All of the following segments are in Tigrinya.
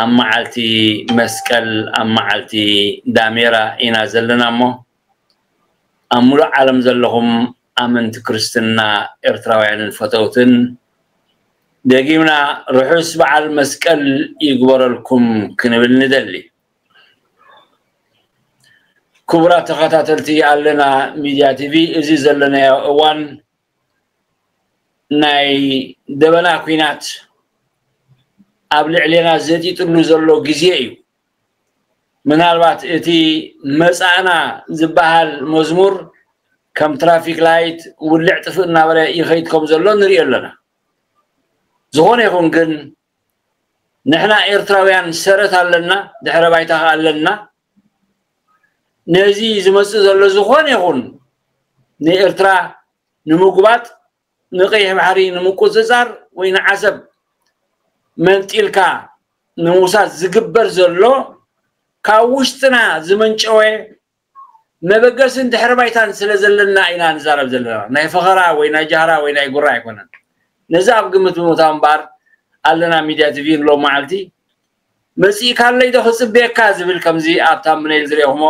ኣብ መዓልቲ መስቀል ኣብ መዓልቲ ዳሜራ ኢና ዘለና እሞ ኣብ ሙሉእ ዓለም ዘለኹም ኣመንቲ ክርስትና ኤርትራውያንን ፈተውትን ደጊምና ርሑስ በዓል መስቀል ይግበረልኩም ክንብል ንደሊ። ክቡራት ተኸታተልቲ ኣለና ሚድያ ቲቪ እዚ ዘለናዮ እዋን ናይ ደበና ኩናት ኣብ ልዕሌና ዘጢጥሉ ዘሎ ግዜ እዩ ምናልባት እቲ መጻእና ዝበሃል መዝሙር ከም ትራፊክ ላይት ውልዕ ጥፍእ እናበለ ይኸይድ ከም ዘሎ ንሪኦ ኣለና ዝኾነ ይኹን ግን ንሕና ኤርትራውያን ሰረት ኣለና ድሕረ ባይታ ከ ኣለና ነዚ ዝመጽእ ዘሎ ዝኾነ ይኹን ንኤርትራ ንምጉባጥ ንቀይሕ ባሕሪ ንምቁጽጻር ወይ ንዓሰብ መንጢልካ ንምውሳድ ዝግበር ዘሎ ካብ ውሽጥና ዝመንጨወ መበገስን ድሕሪ ባይታን ስለ ዘለና ኢና ንዛረብ ዘለና ናይ ፈኸራ ወይ ናይ ጃህራ ወይ ናይ ጉራ ኣይኮነን ነዚ ኣብ ግምት ብምእታው እምበኣር ኣለና ሚድያ ቲቪን ሎሚ መዓልቲ መጺእካለይ ዶ ክጽበየካ ዝብል ከምዚ ኣብ ታምነይል ዝርኤኹሞ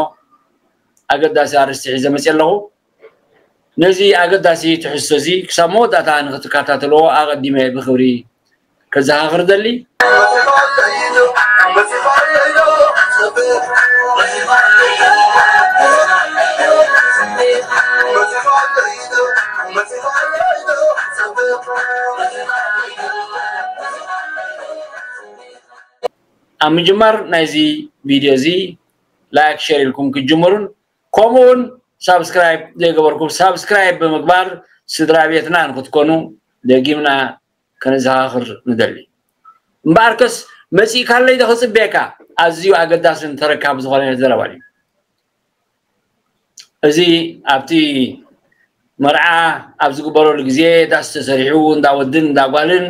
ኣገዳሲ ኣርእስቲ ሒዘ መጺኤ ኣለኹ ነዚ ኣገዳሲ ትሕዝቶ እዚ ክሳብ መወዳእታ ንኽትከታተልዎ ኣቐዲመ ብኽብሪ ከዘኻኽር እደሊ። ኣብ ምጅማር ናይዚ ቪድዮ እዚ ላይክ ሸር ኢልኩም ክትጅምሩን ከምኡውን ሳብስክራይብ ዘይገበርኩም ሳብስክራይብ ብምግባር ስድራ ቤትና ንክትኮኑ ደጊምና ከነዘኻኽር ንደሊ እምበኣርከስ መፂእካለይ ዶ ክፅበየካ ኣዝዩ ኣገዳስን ተረካቢ ዝኾነ ዘረባ እዩ እዚ ኣብቲ መርዓ ኣብ ዝግበረሉ ግዜ ዳስ ተሰሪሑ እንዳ ወድን እንዳ ጓልን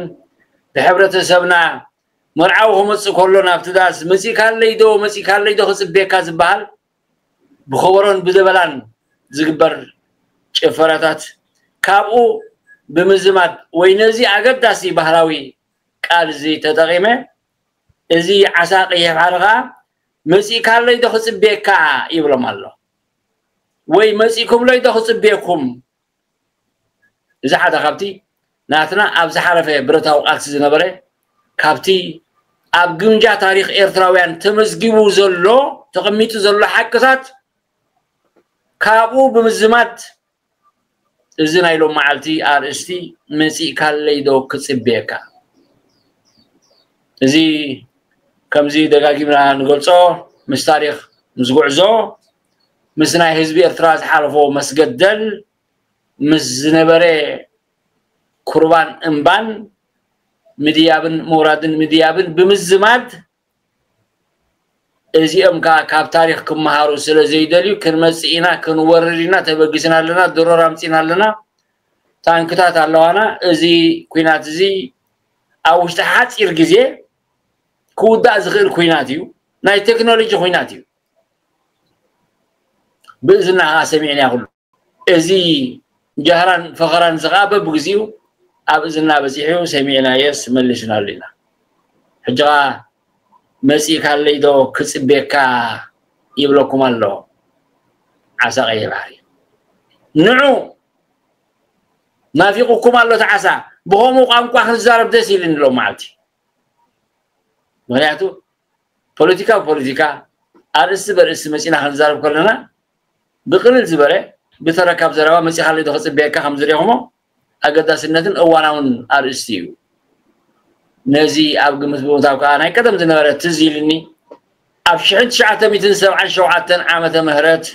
ብሕብረተሰብና መርዓዊ ክመፅእ ከሎ ናብቲ ዳስ መፂእካለይ ዶ መፂእካለይ ዶ ክፅበየካ ዝበሃል ብኸበሮን ብደበላን ዝግበር ጭፈራታት ካብኡ ብምዝማድ ወይ ነዚ ኣገዳሲ ባህላዊ ቃል እዚ ተጠቒመ እዚ ዓሳ ቀይሕ ባሕሪ ከዓ መፂእካለይ ዶ ክፅበየካ ይብሎም ኣሎ ወይ መፂእኩምለይ ዶ ክፅበየኩም እዚ ሓደ ካብቲ ናትና ኣብ ዝሓለፈ ብረታዊ ቃልሲ ዝነበረ ካብቲ ኣብ ግምጃ ታሪኽ ኤርትራውያን ተመዝጊቡ ዘሎ ተቐሚጡ ዘሎ ሓቅታት ካብኡ ብምዝማድ እዚ ናይ ሎም መዓልቲ ኣርእስቲ መፂእካለይ ዶ ክፅብየካ እዚ ከምዚ ደጋጊምና ንገልፆ ምስ ታሪኽ ምስ ጉዕዞ ምስ ናይ ህዝቢ ኤርትራ ዝሓለፎ መስገደል ምስ ዝነበረ ኩርባን እምባን ምድያብን ምውራድን ምድያብን ብምዝማድ እዚኦም ከዓ ካብ ታሪክ ክመሃሩ ስለ ዘይደልዩ ክንመፅእ ኢና ክንወርድ ኢና ተበጊስና ኣለና ድሮር ኣምፂና ኣለና ታንክታት ኣለዋና እዚ ኩናት እዚ ኣብ ውሽጢ ሓፂር ግዜ ክውዳእ ዝኽእል ኩናት እዩ ናይ ቴክኖሎጂ ኩናት እዩ ብእዝና ከዓ ሰሚዕና ኩሉ እዚ ጃህራን ፈኸራን እዚ ከዓ በብግዚኡ ኣብ እዝና በፂሑ ሰሚዕናየስ መሊስናሉ ኢና ሕጂ ከዓ መፂእካለይ ዶ ክፅቤካ ይብለኩም ኣሎ ዓሳ ቀይሕ ባሕሪ ንዑ ናፊቁኩም ኣሎ እቲ ዓሳ ብከምኡ ቋንቋ ክንዛረብ ደስ ኢልኒ ሎም መዓልቲ ምክንያቱ ፖለቲካ ብፖለቲካ ኣርእስቲ በርእስቲ መጺና ክንዛረብ ከለና ብቅልል ዝበለ ብተራ ካብ ዘረባ መጺኻለይ ዶ ክጽበየካ ከም ዝርኹሞ ኣገዳስነትን እዋናውን ኣርእስቲ እዩ ነዚ ኣብ ግምት ብምታብ ከዓ ናይ ቀደም ዝነበረ ትዝ ኢልኒ ኣብ ሽሕን ትሽዓተ ሚትን ሰብዓን ሸውዓተን ዓመተ ምህረት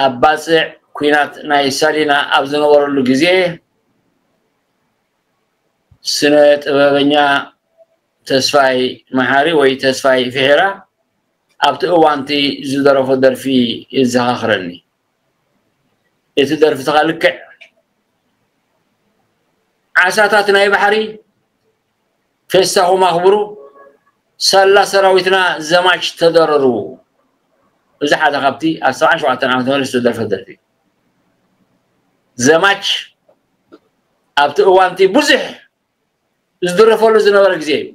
ኣብ ባፅዕ ኩናት ናይ ሳሊና ኣብ ዝነበረሉ ግዜ ስነ ጥበበኛ ተስፋይ መሓሪ ወይ ተስፋይ ፊሒራ ኣብቲ እዋንቲ ዝደረፎ ደርፊ የዘኻኽረኒ እቲ ደርፍትኻ ልክዕ ዓሳታት ናይ ባሕሪ ፌስታኹም ኣኽብሩ ሳላ ሰራዊትና ዘማች ተደረሩ እዚ ሓደ ካብቲ ኣብ ሰብዓን ሸውዓተን ዓመተ ምህረት ዝተደርፈ ደርፊ ዘማች ኣብቲ እዋንቲ ብዙሕ ዝድረፈሉ ዝነበረ ግዜ እዩ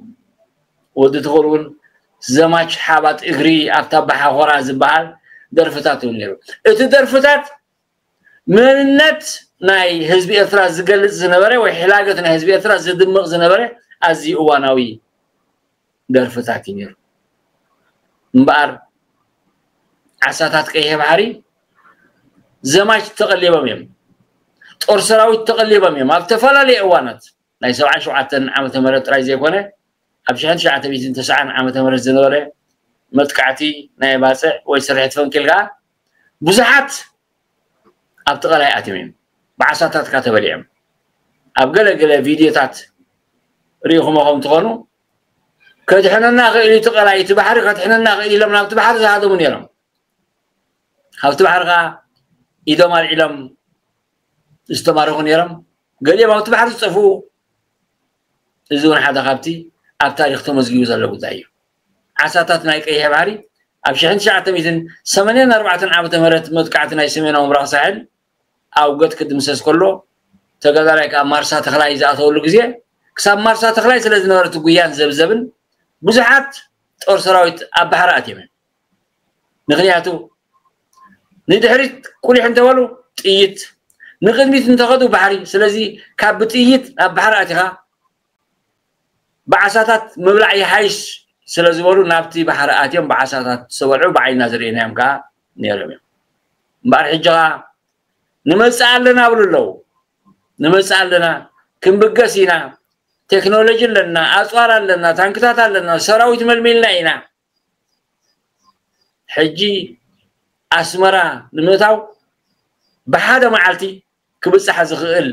ወዲ ትኹል እውን ዘማች ሓባት እግሪ ኣብታ ባሓኾራ ዝበሃል ደርፍታት እዩ ነይሩ እቲ ደርፍታት መንነት ናይ ህዝቢ ኤርትራ ዝገልጽ ዝነበረ ወይ ሕላገት ናይ ህዝቢ ኤርትራ ዝድምቕ ዝነበረ ኣዝዩ እዋናዊ ደርፍታት እዩ ነይሩ እምበኣር ዓሳታት ቀይሕ ባሕሪ ዘማች ተቐሊቦም እዮም ጦር ሰራዊት ተቐሊቦም እዮም ኣብ ዝተፈላለዩ እዋናት ናይ ሰብዓን ሸውዓተን ዓመተ ምህረት ጥራይ ዘይኮነ ኣብ ሽሕን ትሽዓተ ሚእትን ተስዓን ዓመተ ምህረት ዝነበረ መጥቃዕቲ ናይ ባፅዕ ወይ ስርሒት ፈንቂል ከዓ ብዙሓት ኣብቲ ቀላይ ኣትዮም እዮም ብዓሳታት ከዓ ተበሊዖም ኣብ ገለ ገለ ቪድዮታት ርኢኹሞ ከም ትኾኑ ከድሕነና ክእል እቲ ቀላይ እቲ ባሕሪ ከድሕነና ክእል ኢሎም ናብቲ ባሕሪ ዝሃደሙ ነይሮም ካብቲ ባሕሪ ከዓ ኢዶም ኣልዒሎም ዝተማረኹ ነይሮም ገሊኦም ኣብቲ ባሕሪ ዝጠፍኡ እዚ እውን ሓደ ካብቲ ኣብ ታሪክ ተመዝጊቡ ዘሎ ጉዳይ እዩ ዓሳታት ናይ ቀይሕ ባሕሪ ኣብ ሽሕን ትሽዓተ ሚትን ሰመንያን ኣርባዕተን ዓመተ ምህረት መጥቃዕቲ ናይ ሰሜናዊ ምብራቅ ሳሕል ኣውገት ክድምሰስ ከሎ ተጋዳላይ ከኣ ማርሳ ተኽላይ ዝኣተወሉ ግዜ ክሳብ ማርሳ ተኽላይ ስለ ዝነበረ እቲ ጉያን ዘብዘብን ብዙሓት ጦር ሰራዊት ኣብ ባሕሪ ኣትየመን ምክንያቱ ንድሕሪት ቁሊሕ እንተበሉ ጥይት ንቅድሚት እንተኸዱ ባሕሪ ስለዚ ካብ ብጥይት ኣብ ባሕሪ ኣቲኻ ብዓሳታት ምብላዕ ይሓይሽ ስለ ዝበሉ ናብቲ ባሕሪ ኣትዮም ብዓሳታት ዝተበልዑ ብዓይና ዝርእናዮም ከዓ ነይሮም እዮም እምበኣር ሕጂ ከዓ ንመፅእ ኣለና ብሉ ኣለዉ ንመፅእ ኣለና ክንብገስ ኢና ቴክኖሎጂ ኣለና ኣፅዋር ኣለና ታንክታት ኣለና ሰራዊት መልሚልና ኢና ሕጂ ኣስመራ ንምእታው ብሓደ መዓልቲ ክብጻሕ ዝኽእል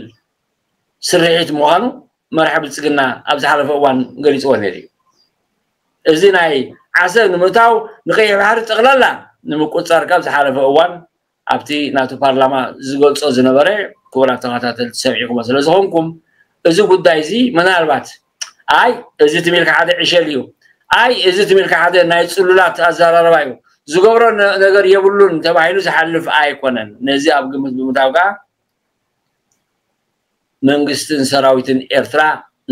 ስርሒት ምዃኑ መራሒ ብልጽግና ኣብ ዝሓለፈ እዋን ገሊጽዎ ነይሩ እዩ። እዚ ናይ ዓሰብ ንምእታው ንቀይሕ ባሕሪ ጠቕላላ ንምቁጽጻር ካብ ዝሓለፈ እዋን ኣብቲ ናቱ ፓርላማ ዝገልጾ ዝነበረ ክቡራት ተኸታተልቲ ሰሚዕኩሞ ስለ ዝኾንኩም እዚ ጉዳይ እዚ ምናልባት ኣይ እዚ ትም ኢልካ ሓደ ዕሸል እዩ፣ ኣይ እዚ ትም ኢልካ ሓደ ናይ ጽሉላት ኣዘራርባ እዩ፣ ዝገብሮ ነገር የብሉን ተባሂሉ ዝሓልፍ ኣይኮነን። ነዚ ኣብ ግምት ብምእታው ከኣ መንግስትን ሰራዊትን ኤርትራ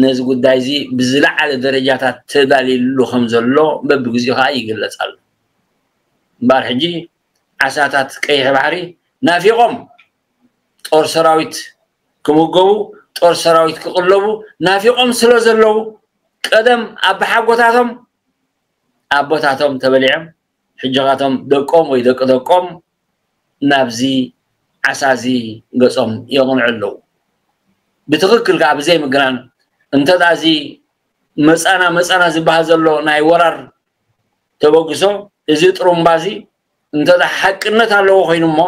ነዚ ጉዳይ እዚ ብዝለዓለ ደረጃታት ተዳልዩሉ ከም ዘሎ በብግዜኡ ከኣ ይግለጽ ኣሎ። እምበኣር ሕጂ ዓሳታት ቀይሕ ባሕሪ ናፊቖም ጦር ሰራዊት ክምገቡ ጦር ሰራዊት ክቕለቡ ናፊቖም ስለ ዘለዉ ቀደም ኣቦሓጎታቶም ኣቦታቶም ተበሊዖም ሕጂኻቶም ደቆም ወይ ደቂ ደቆም ናብዚ ዓሳ እዚ ገጾም የቕንዑ ኣለዉ ብትኽክል ከዓ ብዘይምግራን እንተ ደኣ እዚ መፃና መፃና ዝበሃል ዘሎ ናይ ወራር ተበግሶ እዚ ጥሩምባ እዚ እንተ ሓቅነት ኣለዎ ኮይኑ እሞ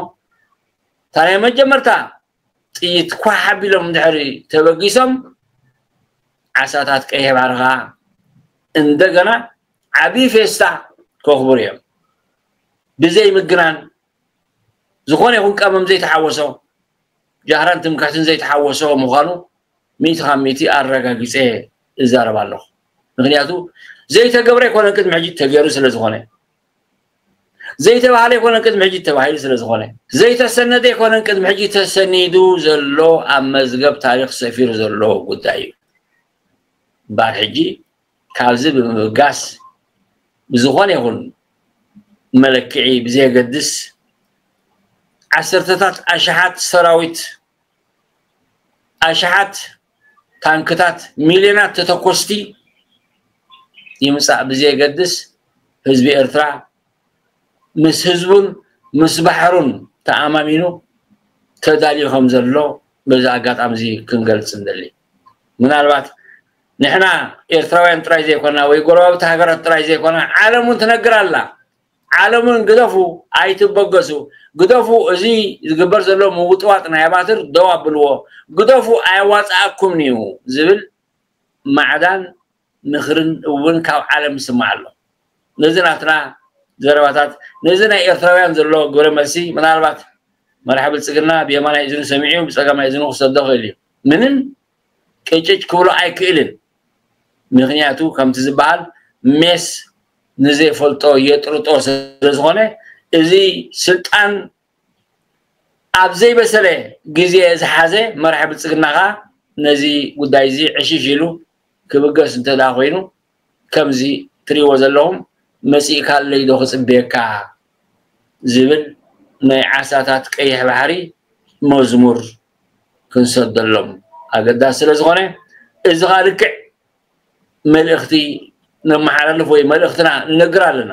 እታ ናይ መጀመርታ ጥይት ኳሕ ኣቢሎም ድሕሪ ተበጊሶም ዓሳታት ቀይሕ ባሕሪ ከዓ እንደገና ዓብዪ ፌስታ ከኽብሩ እዮም ብዘይ ምግናን ዝኾነ ይኹን ቀመም ዘይተሓወሶ ጃህራን ትምክሕትን ዘይተሓወሶ ምዃኑ ሚእቲ ካብ ሚእቲ ኣረጋጊፀ እዛረብ ኣለኹ ምክንያቱ ዘይተገብረ ኣይኮነን ቅድሚ ሕጂ ተገይሩ ስለ ዝኾነ ዘይተባህለ ኣይኮነን ቅድሚ ሕጂ ተባሂሉ ስለ ዝኾነ ዘይተሰነደ ኣይኮነን ቅድሚ ሕጂ ተሰኒዱ ዘሎ ኣብ መዝገብ ታሪኽ ሰፊሩ ዘሎ ጉዳይ እዩ እምበኣር ሕጂ ካብዚ ብምብጋስ ብዝኾነ ይኹን መለክዒ ብዘየገድስ ዓሰርተታት ኣሽሓት ሰራዊት ኣሽሓት ታንክታት ሚልዮናት ተተኮስቲ ይምፃእ ብዘየገድስ ህዝቢ ኤርትራ ምስ ህዝቡን ምስ ባሕሩን ተኣማሚኑ ተዳልዩ ከም ዘሎ በዚ ኣጋጣሚ እዚ ክንገልፅ ንደሊ ምናልባት ንሕና ኤርትራውያን ጥራይ ዘይኮና ወይ ጎረባብቲ ሃገራት ጥራይ ዘይኮና ዓለም እውን ትነግር ኣላ ዓለሙን ግደፉ ኣይትበገሱ ግደፉ እዚ ዝግበር ዘሎ ምውጥዋጥ ናይ ኣባትር ደው ኣብልዎ ግደፉ ኣየዋጽኣኩምንዩ ዝብል ማዕዳን ምኽርን እውን ካብ ዓለም ይስማዕ ኣሎ ነዚ ናትና ዘረባታት ነዚ ናይ ኤርትራውያን ዘሎ ግብረ መልሲ ምናልባት መራሒ ብልጽግና ብየማናይ እዝኑ ሰሚዑ ብጸጋማይ እዝኑ ክሰዶ ይኽእልዩ ምንም ቅጭጭ ክብሎ ኣይክእልን ምክንያቱ ከምቲ ዝበሃል ሜስ ንዘይፈልጦ የጥርጦ ስለዝኾነ እዚ ስልጣን ኣብ ዘይበሰለ ግዜ ዝሓዘ መራሒ ብልጽግና ከኣ ነዚ ጉዳይ እዚ ዕሽሽ ኢሉ ክብገስ እንተደኣ ኮይኑ ከምዚ ትሪእዎ ዘለኹም መጺእካለይ ዶ ክጽበየካ ዝብል ናይ ዓሳታት ቀይሕ ባሕሪ መዝሙር ክንሰደሎም ኣገዳሲ ስለ ዝኾነ እዚ ኸኣ ልክዕ መልእኽቲ ነመሓላልፍ ወይ መልእኽትና ንነግር ኣለና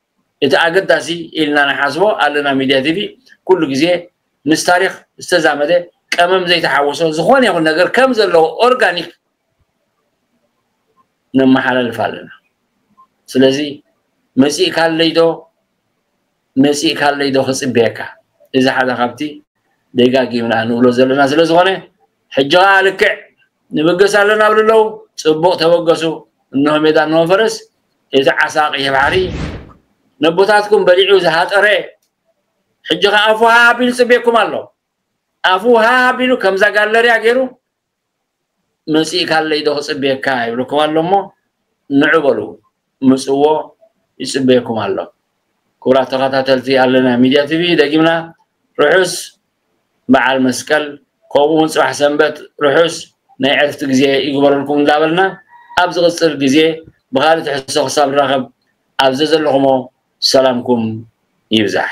እቲ ኣገዳሲ ኢልና ንሓስቦ ኣለና ሚድያ ቲቪ ኩሉ ግዜ ምስ ታሪኽ ዝተዛመደ ቀመም ዘይተሓወሶ ዝኾነ ይኹን ነገር ከም ዘለዎ ኦርጋኒክ ነመሓላልፍ ኣለና ስለዚ መፂእካለይዶ መፂእካለይዶ ክፅበየካ እዚ ሓደ ካብቲ ደጋጊምና ንብሎ ዘለና ስለ ዝኾነ ሕጂ ከዓ ልክዕ ንብገስ ኣለና ብልለው ፅቡቕ ተበገሱ እንሆ ሜዳ እንሆ ፈረስ እዚ ዓሳ ቀይሕ ባሕሪ ነቦታትኩም በሊዑ ዝሃጠረ ሕጂ ከ ኣፉ ሃ ኣቢሉ ጽቤኩም ኣሎ ኣፉ ሃ ኣቢሉ ከምዛ ጋለርያ ገይሩ መጺእካለይ ዶ ክጽቤካ ይብልኩም ኣሎ እሞ ንዑ በሉ ምጽዎ ይጽበየኩም ኣሎ ክቡራት ተኸታተልቲ ኣለና ሚድያ ቲቪ ደጊምና ርሑስ በዓል መስቀል ከምኡ እውን ፅባሕ ሰንበት ርሑስ ናይ ዕርፍቲ ግዜ ይግበረልኩም እንዳበልና ኣብ ዝቕፅል ግዜ ብኻልእ ትሕዝቶ ክሳብ ንራኸብ ኣብ ዘዘለኹሞ ሰላምኩም ይብዛሕ።